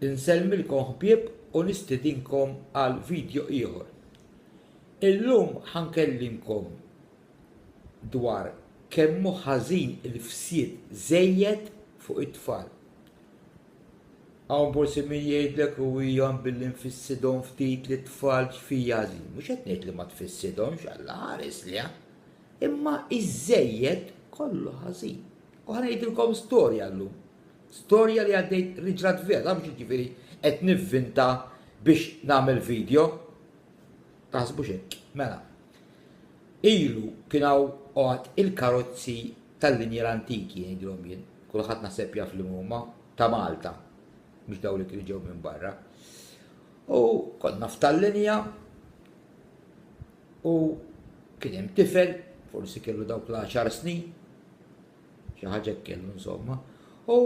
Insellmilkom ħbieb u nistidinkom għal vidjo ieħor. Illum ħa nkellimkom dwar kemm hu ħażin il-fsid żejjed fuq it-tfal. Hawn forsi min jgħidlek u hija billi nfissidhom ftit li tfal ġfija ħażin. Mhux qed ngħid li ma tfissidhomx Alla ħares li imma iż-żejjed kollu ħażin. U ħa ngħidilkom storja llum Storja li għaddejt riġrat vera mhux jiġifieri qed nivvinta biex nagħmel video. Taħsbux hekk. Mela. Ilu kien hawn għad il-karozzi tal-linja l-antiki ngħidilhom jien. Kulħadd naħseb jaf li huma ta' Malta. Mhux dawn li kienu ġew minn barra. U konna f'tal-linja u kien hemm tifel, forsi kellu dawk l-10 snin, Xi ħaġa hekk kellu insomma. U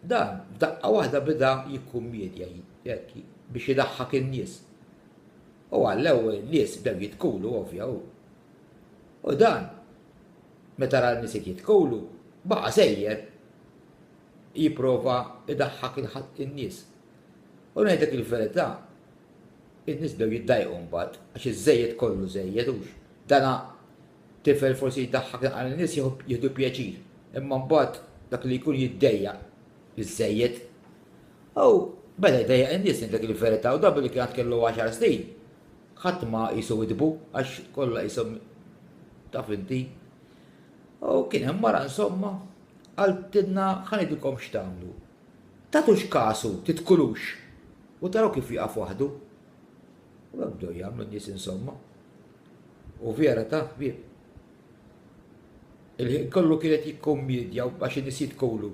dan f'daqqa waħda bida jikkummedja hekk biex idaħħak in-nies. U għallew in-nies bdew jitkulu ovvja u. U dan meta ra n-nies qed jitkulu baqa' sejjer jipprova idaħħak in-nies. U ngħidlek il-verità, in-nies bdew jiddajqu mbagħad għax iż-żejjed kollu żejjed hux. Dana Tifel forsi jdaħħak naqra lin-nies jieħdu pjaċir, imma mbagħad dak li jkun jiddejjaq iż-żejjed. U beda jdejjaq lin-nies ngħid dak il-verità u dan billi kien għad kellu għaxar snin. Ħadd ma qisu widbu għax kollha qishom taf inti. U kien hemm mara insomma qaltilna ħa ngħidilkom x'tagħmlu. Tagħtux kasu, titkulux u taraw kif jieqaf waħdu. U hekk bdew jagħmlu n-nies insomma. u vera ta' ħbieb. Il-ħin kollu kienet jikkummedja ma' xi nies jitkulu.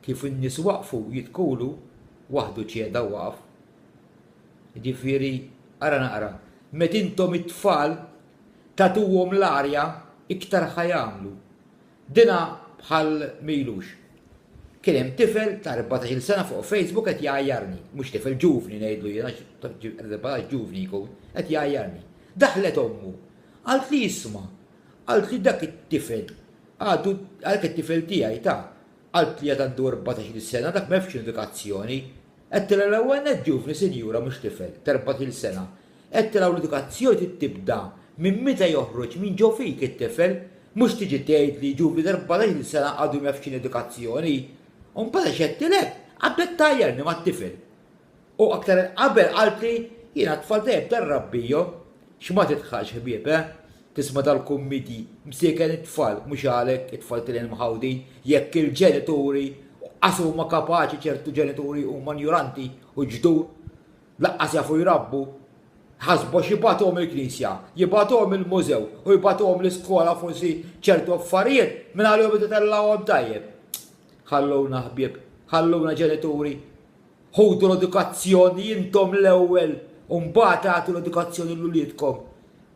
Kif in-nies waqfu jitkulu, waħdu ċeda u waqaf. Ġifieri, ara naqra, meta intom it-tfal tagħtuhom l-arja iktar ħa jagħmlu. Dina bħal m'ilux. Kien hemm tifel ta' erbatax-il sena fuq Facebook qed jgħajjarni, mhux tifel, ġuvni ngħidlu jien għax erbatax ġuvni jkun, qed jgħajjarni. Daħlet ommu. Qaltli isma', qaltli dak it-tifel għadu, dak it-tifel tiegħi ta, qaltli għad għandu erbatax-il sena, dak m'għefx indikazzjoni Għedtilha l-ewwel nett ġuvni sinjura mhux tifel, t'erbat-il sena. Għedtilha u l-edukazzjoni trid tibda minn meta joħroġ minn ġo fik it-tifel, mhux tiġi tgħidli ġuvni t'erbatax-il sena għadu m'jafx x'inhi edukazzjoni. U mbagħad għax għedtilek, qabdet tgħajjarni mat-tifel. U aktar 'il qabel qaltli, jiena t-tfal dejjem darrabbihom. X'ma tidħalx ħbieb, eh? Tisma' dal-kummidi, Msieken it-tfal, mhux għalek, it-tfal tilin mħawdin, jekk il-ġenituri, u qas huma kapaċi ċertu ġenituri huma njuranti u ġdur, laqqas jafu jrabbu, ħasbu għax jibgħatuhom il-knisja, jibgħatuhom il-mużew u jibgħatuhom l-iskola forsi ċertu affarijiet minn għalihom ititellgħuhom tajjeb. Ħalluna ħbieb, ħalluna ġenituri. Ħudu l-edukazzjoni intom l-ewwel u mbagħad agħtu l-edukazzjoni lil uliedkom.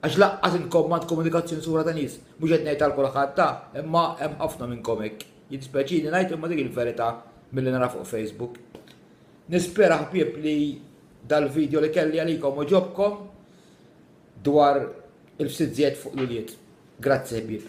Għax lanqas intkom m'għandkom edukazzjoni sura ta' nies. Mhux qed ngħid għal kulħadd ha, imma hemm ħafna minnkom hekk. Jiddispjaċini ngħid imma dik il-verità milli nara fuq Facebook. Nispera ħbieb li dal-video li kelli għalikom oġobkom dwar il-fsizzjet fuq l-ulied. Grazzi ħbieb.